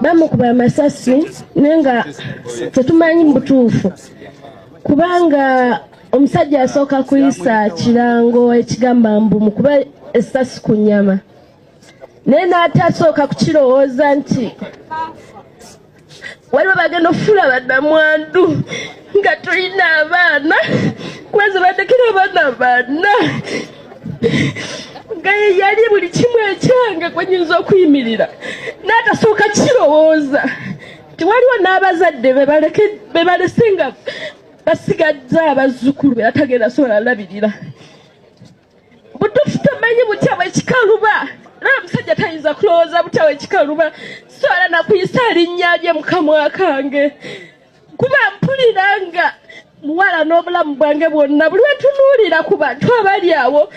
bamukuba amasasi naye nga tetumanyi mu butuufu kubanga omusajja asooka kuyisa kirango ekigamba mbu mukuba essasi ku nyama naye n'atasooka kukirowooza nti waliwo bagenda okufuula badamwandu nga tulina abaana kuba zebatekera abaana baana nga yeyali buli kimu ekyange kwenyinza okuyimirira n'atasooka kirowooza nti waliwo n'abazadde bebalese nga basigadde abazzukulu beatagenda sobola labirira butufu tamanyi butya bwekikaluba era omusajja tayinza kulowooza butya bwekikaluba so era nakuyisa linnya lye mukamwa kange kuba mpulira nga muwala n'obulamu bwange bwonna buli wetunuulira ku bantu abali awo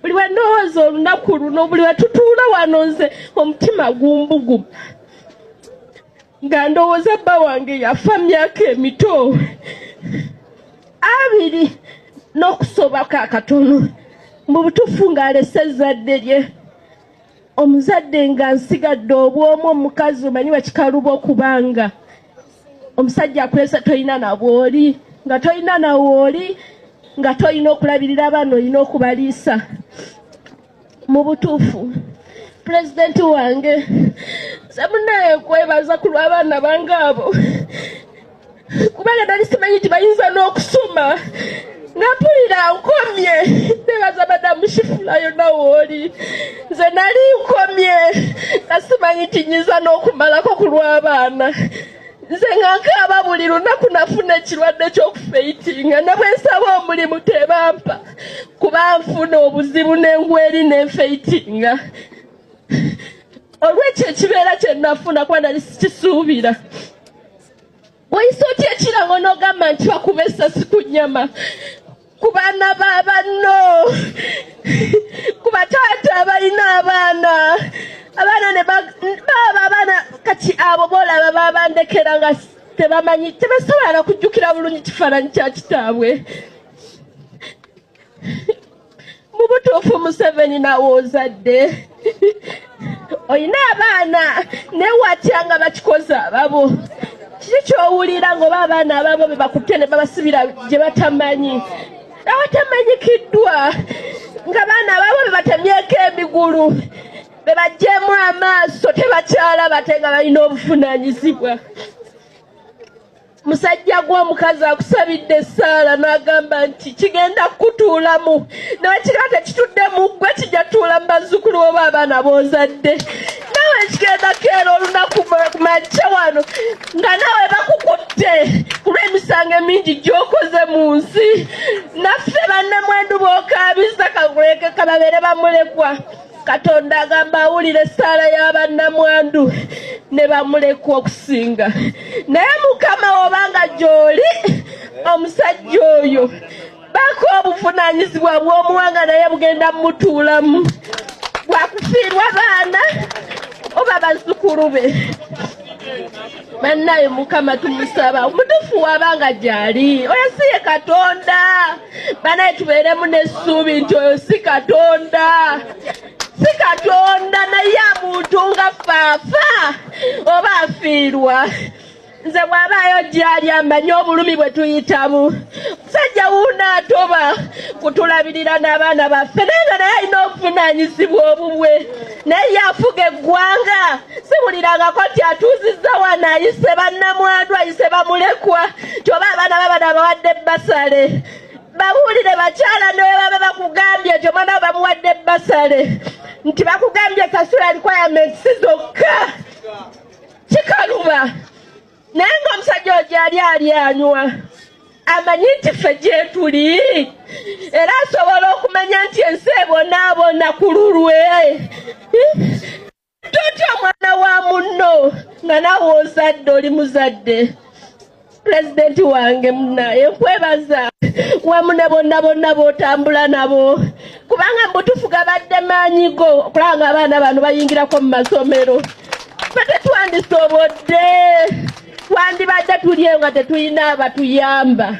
buli wendowooza olunaku luno buli wetutuula wano nze omutima gumbuguma nga ndowooza bba wange yafa myaka emito abiri n'okusoobako akatono mu butuufu ng'alese ezzadde lye omuzadde nga nsigadde obwomu omukazi omanyi bakikaluba okubanga omusajja akulesa tolina nabwoli nga tolina nawooli nga tolina okulabirira abaana olina okubaliisa mu butuufu pulezidenti wange nze munaye kwebaza ku lw'abaana bange abo kubanga nali simanyi nti bayinza n'okusoma nga mpulira nkomye nebaza madamu shifula yonna wooli nze nali nkomye nga simanyi nti nyinza n'okumalako ku lw'abaana nze nga nkaaba buli lunaku nafuna ekirwadde ky'okufeitinga ne bwe nsaba omulimu tebampa kuba nfuna obuzibu nengweri nenfeitinga olwekyo ekibeera kyenafuna kuba nali sikisuubira wayise otya ekirango nogamba nti bakuba esasi ku nyama ku baana ba banno ku bataata abalina abaana abaana nebaba abaana kati abo boolaba babandekera nga tebamanyi tebasobola nakujjukira bulungi kifaananyi kya kitaabwe mu butuufu museveni nawe ozadde olina abaana naye watya nga bakikoze ababo kiki kyowulira ngaoba abaana ababo bebakutte ne babasibira gye batamanyi abatamanyikiddwa nga baana ababo bebatemyeko emigulu bebajjeemu amaaso tebakyalaba te nga balina obuvunanyizibwa musajja gwe omukazi akusabidde essaala n'agamba nti kigenda kukutuulamu nawe kigaa tekituddemu gwe kijja tuula mu bazzukulu oba abaana b'ozadde nawe kigenda keera olunaku majja wano nga nawe bakukutte kulw'emisango emingi gy'okoze mu nsi naffe bannemwendu b'okaabiza kaguleeke kababeere bamulekwa katonda agamba awulira essaala y'abannamwandu ne bamulekwa okusinga naye mukama wobanga gyoli omusajja oyo bako obuvunanyizibwa bw'omuwanga naye bugenda mumutuulamu bwakufiirwa baana oba bazzukulu be banaye mukama tumusaba omutufu wabanga gyali oyo si ye katonda banaye tubeeremu n'essuubi nti oyo si katonda si katonda naye amuntu nga faafa oba afiirwa nze bw'abaayo gyali amanyi obulumi bwe tuyitamu sajja wuuna atoba kutulabirira n'abaana baffe naye nga naye alina obuvunaanyizibwa obubwe naye yafuga eggwanga siwulirangako nti atuuzizza wano ayise bannamwandu ayise bamulekwa kyoba abaana babana bawadde basale babuulire bakyala ne bwe baba bakugambye nti omwana we bamuwadde basale nti bakugambye kasula requirements zokka kikaluba naye nga omusajja ojo ali ali anywa amanyi nti ffe gyetuli era asobola okumanya nti ensi ebonaabona ku lulwe totya omwana wa munno nga nawe ozadde oli muzadde pulezidenti wange munaye nkwebaza wamune bonna bonna botambula nabo kubanga mbutufu gabadde maanyi go okulaba nga abaana bano bayingirako mu masomero fe tetwandisobodde twandibadde tulyeyo nga tetulina abatuyamba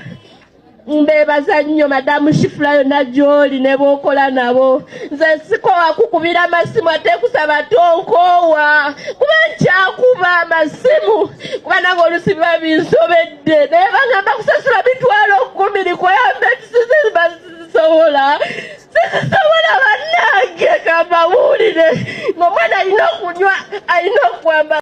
mbebaza nnyo madamu shifula yonna gyoli ne bookola nabo nze sikowa kukubira amasimu ate kusaba tonkoowa kuba nkyakuba amasimu kuba nange olusi biba binsobedde naye bangamba kusasula bitwalo kumi likoyambe tusize sisobola sisobola bannange kamba buwulire ng'omwana alina okunywa alina okwambala